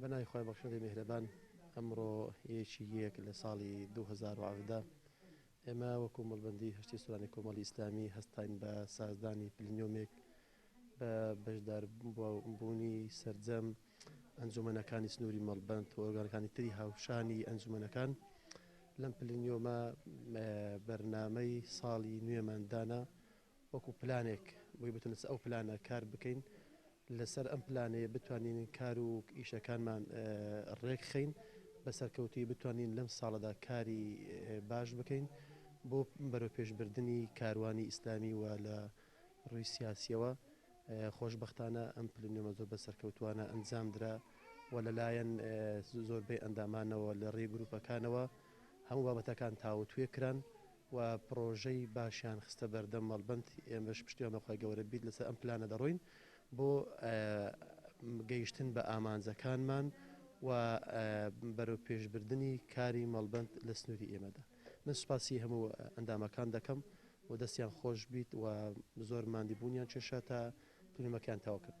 بە ناوی خوای بەخشندەی میهرەبان ئەمڕۆ ی یەک لە ساڵی دوو هەزار و حەڤدە ئێمە وەکو مەڵبەندی هەشتی سوورانی کۆمەڵی ئیسلامی هەستاین بە سازدانی پلنیۆمێک بە بەشداربوونی سەرجەم ئەنجومەنەکانی سنووری مەڵبەند و ئۆرگانەکانی تری هاوشانی ئەنجومەنەکان لەم پلنیۆمە بەرنامەی ساڵی نوێمان دانا وەکو پلانێک بۆی بتونس ئەو پلانە کار بکەین لەسەر ئەم پلانەیە بتوانین کار و ئیشەکانمان ڕێکخین بە سەرکەوتوی بتوانین لەم ساڵەدا کاری باش بکەین بۆ بەرەو پێشبردننی کاروانی ئیسلامی وە لە ئەم ڕووی سیاسییەوە، خۆشبەختانە ئەم پلنوێمە زۆر بە سەرکەوتووانە ئەنجامدرا و لەلایەن زۆربەی ئەندامانەوە لە ڕێی گرووپەکانەوە هەموو بابەتەکان تاوتوێ کران و پڕۆژەی باشیان خستە بەردەم مەڵبەند، ئێمەش پشتیوان بە خوای گەوەرە بیت لەسەر ئەم پلانە دەڕۆین بۆ گەیشتن بە ئامانجەکانمان و بەرەوپێشبردنی کاری مەڵبەند لە سنووری ئێمەدا. من سوپاسی هەموو ئەندامەکان دەکەم و دەستیان خۆش بیت و زۆر ماندی بوونیان چێشا تا فلیمەکەیان تەواو کرد.